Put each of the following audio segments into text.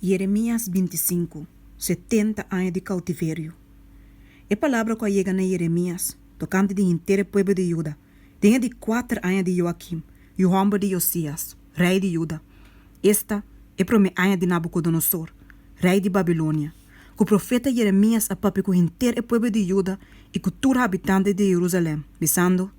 Yeremias binti i sinku, setenta aña di kautiverio. E palabra ku a yega na Yeremias tokante di henter e pueblo di Juda den e di kuater aña di Joakim, yu hòmber di Josias, rei di Juda, esta e promé aña di Nabukodonosor, rei di Babilonia, ku profeta Yeremias a papia ku henter e pueblo di Juda i ku tur habitantes di Jerusalèm, bisando,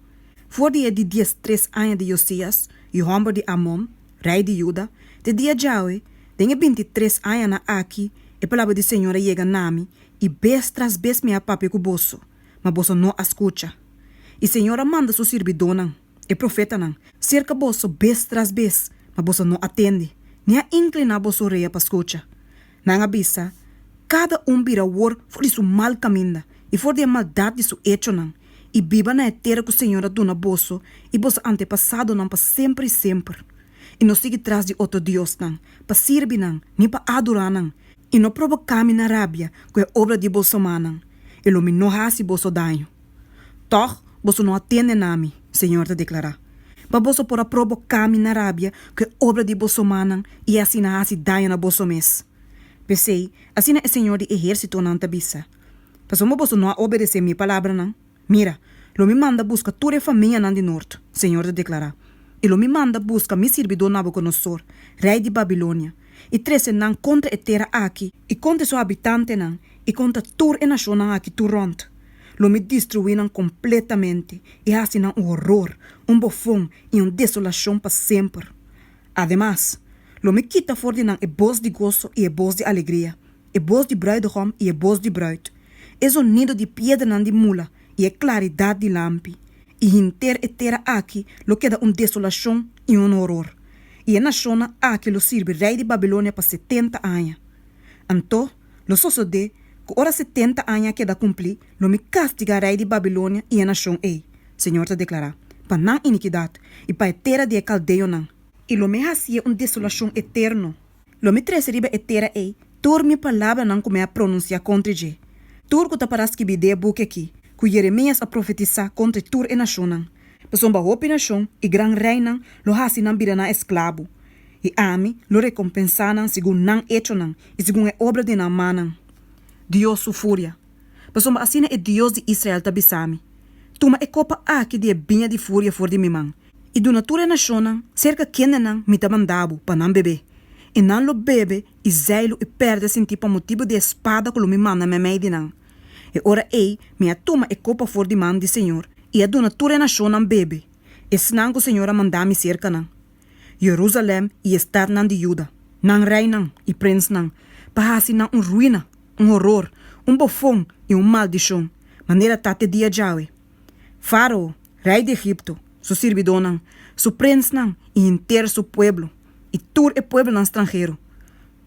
For di e di diestres aña di Josias, yu hòmber di Amon, Rei di Juda, te dia djawe, den e binti i tres añanan aki, e palabra di Señor a yega na mi, i bes tras bes mi a papia ku boso, ma boso no a skucha. I Señor a manda Su sirbidónan, e profetanan, serka boso bes tras bes, ma boso no a tende, ni a inkliná boso orea pa skucha. Nan a bisa, Kada un bira wor for di su mal kaminda, i for di e maldat di su echonan, i biba na e tera ku Señor a duna boso i boso antepasadonan pa semper i semper, i no sigui tras di otro diosnan, pa sirbi nan, ni pa adorá nan, i no probokámi na rabia ku e obra di boso manan, i lo mi no hasi boso daño. Tòg, boso no a tende na mi, señor ta deklará, pa boso por a proboká mi na rabia ku e obra di boso mannan i asina hasi daño na boso mes. P'esei, asina e señor di ehérsitonan ta bisa, Pasobra boso no a obedesé mi palabranan, mira, lo mi manda buska tur e famianan di nort, señor ta deklará, i lo mi manda buska mi sirbidó Nabukodonosor, rei di Babilonia, i trese nan kontra e tera aki, i kontra su habitantenan, i kontra tur e nashonnan aki tur rònt, lo mi destruí nan kompletamente, i hasi nan un horor, un bofon i un desolashon pa semper. Ademas, lo mi kita for di nan e bos di goso i e bos di alegria, e bos di bruidegom i e bos di bruid, e zonido di piedranan di mula, i e klaridat di lampi, i hinter e tera aki lo keda un desolashon i un horor, i e nashonnan aki lo sirbi rei di Babilonia pa setenta aña. Anto, lo sosodé ku ora setenta aña a keda kumplí, lo mi kastigá rei di Babilonia i e nashon ei, Señor ta deklará, pa nan inikidat, i pa e tera di e kaldeonan, i lo mi hasié un desolashon eterno. Lo mi trese riba e tera ei tur mi palabranan ku mi a pronunsiá kontra dje, tur ku ta pará skibi dé buki akí, ku Jeremias a profetisá kontra tur e nashonnan, pasobra hopi nashon i gran reinan lo hasi nan bida nan esklabu, i ami lo rekompensá nan segun nan echonan i segun e obra den nan mannan. Dios su furia. Pasobra asina e Dios di Israel ta bisa mi, Tuma e kopa aki di e biña di furia for di mi man, i duna tur e nashonnan serka kendenan mi ta manda bo pa nan bebé, i nan lo bebe i zèi lo e pèrdè sinti pa motibu di e spada ku lo mi manda meimei di nan. E ora ei mi a tuma e kopa for di man di señor, i a duna tur e nashonnan bebe, esnan ku señor a manda mi serka nan. Jerusalem i e stadnan di Juda, nan reinan i prensnan, pa hasi nan un ruina, un horor, un bofon i un maldishon, manera ta te dia djawe. Faro, rei di Egipto, su sirbidónan, su prensnan i henter su pueblo, i tur e pueblonan stranhero,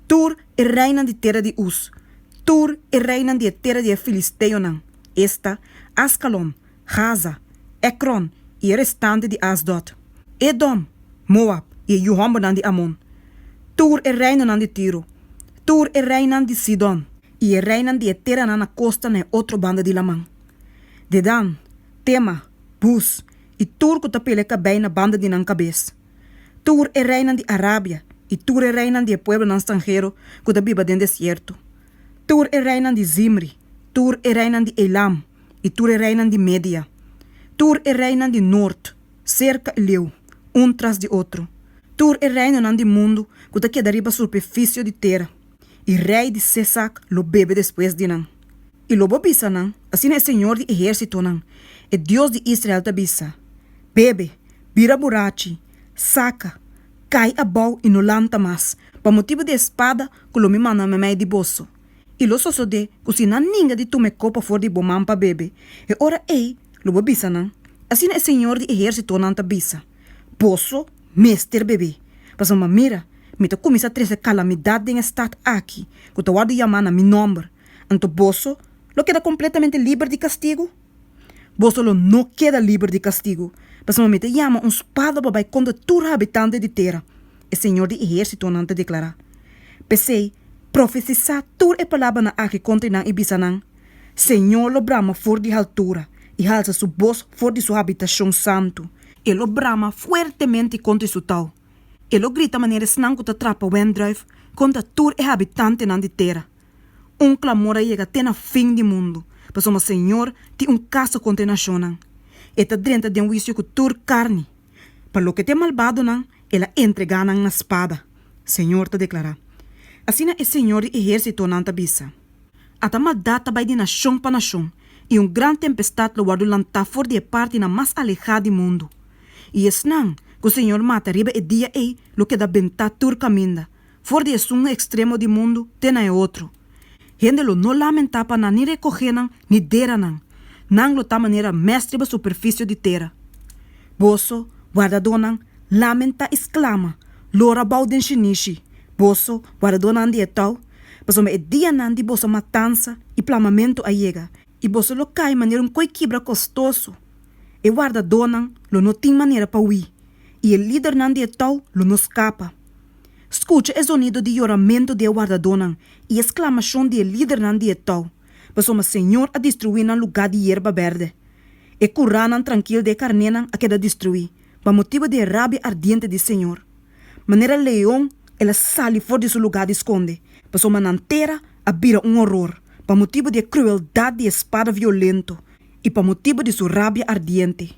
tur e reinan di tera di Us, tur e reinan di e tera di e filisteonan, esta, Askalon, Gaza, Ekron i e restante di Asdot, Edom, Moab i e yu hòmbernan di Amon, tur e reinonan di Tiro, tur e reinan di Sidon i e reinan di e teranan na kosta na e otro banda di laman, Dedan, Tema, Bus i tur ku ta pele kabei na banda di nan kabes, tur e reinan di Arabia i tur e reinan di e pueblonan stranhero ku ta biba den desierto, tur e reinan di Zimri, tur e reinan di Elam, i tur e reinan di Media, tur e reinan di nort, serka e leu, un tras di otro, tur e reinonan di mundu ku ta keda riba superfisio di tera, i rei di Sesak lo bebe despues di nan. I lo bo bisa nan, Asina e señor di ehérsitonan, e Dios di Israel ta bisa, Bebe, bira burachi, saka, kai abou i no lanta mas, pa motibu di e spada ku lo mi manda mamei di boso. i lo sosodé ku si nan ninga di tuma e kopa for di bo man pa bebe, e ora ei lo bo bisa nan, asina e señor di ehérsitonan ta bisa, boso mester bebé, pasobra mira, mi ta kuminsá trese kalamidat den e stat aki ku ta wòrdu yamá na mi nòmber, anto boso lo keda kompletamente liber di kastigu? Boso lo no keda liber di kastigu, pasobra mi ta yama un spada pa bai kontra tur habitante di tera. E Señor di Ehérsitonan ta deklará, P'esei, profetisá tur e palabranan aki kontra nan i bisa nan, Señor lo brama for di haltura, i halsa su bos for di su habitashon santu. E lo brama fuertemente kontra e su tau, e lo grita manera esnan ku ta trapa wendruif, kontra tur e habitantenan di tera. Un klamor a yega te na fin di mundu, pasobra Señor tin un kasa kontra e nashonnan. E ta drenta den huisio ku tur karni. Pa loke t'e malbadonan, el a entregá nan na spada, Señor ta deklará. Asina e Señor di ehérsitonan ta bisa, Ata maldat ta bai di nashon pa nashon, i un gran tempestat lo wòrdu lantá for di e partinan mas alehá di mundu. I esnan ku Señor mata riba e dia ei lo keda bentá tur kaminda, For di esun ekstremo di mundu te na e otro. Hende lo no lamentá pa nan ni rekohé nan ni dera nan. Nan lo ta manera mès riba superfisio di tera. Boso, wardadónan, lamenta i sklama, Lora bou den shinishi, boso, wardadónan di e tou, pasobra e dianan di boso matansa i plamamentu a yega, i boso lo kai manera un koi kibra kostoso. E wardadónan lo no tin manera pa hui, i e lidernan di e tou lo no skapa. Skucha e zonido di yoramentu di e wardadónan i e sklamashon di e lidernan di e tou, pasobra e señor a destruí nan lugá di yerba bèrdè. E kuránan trankil di e karnénan a keda destruí, pa motibu di e rabia ardiente di e señor. Manera leon el a sali for di su lugá di skonde, pasobra nan tera a bira un oror, pa motibu di e krueldat di e spada violento i pa motibu di su rabia ardiente.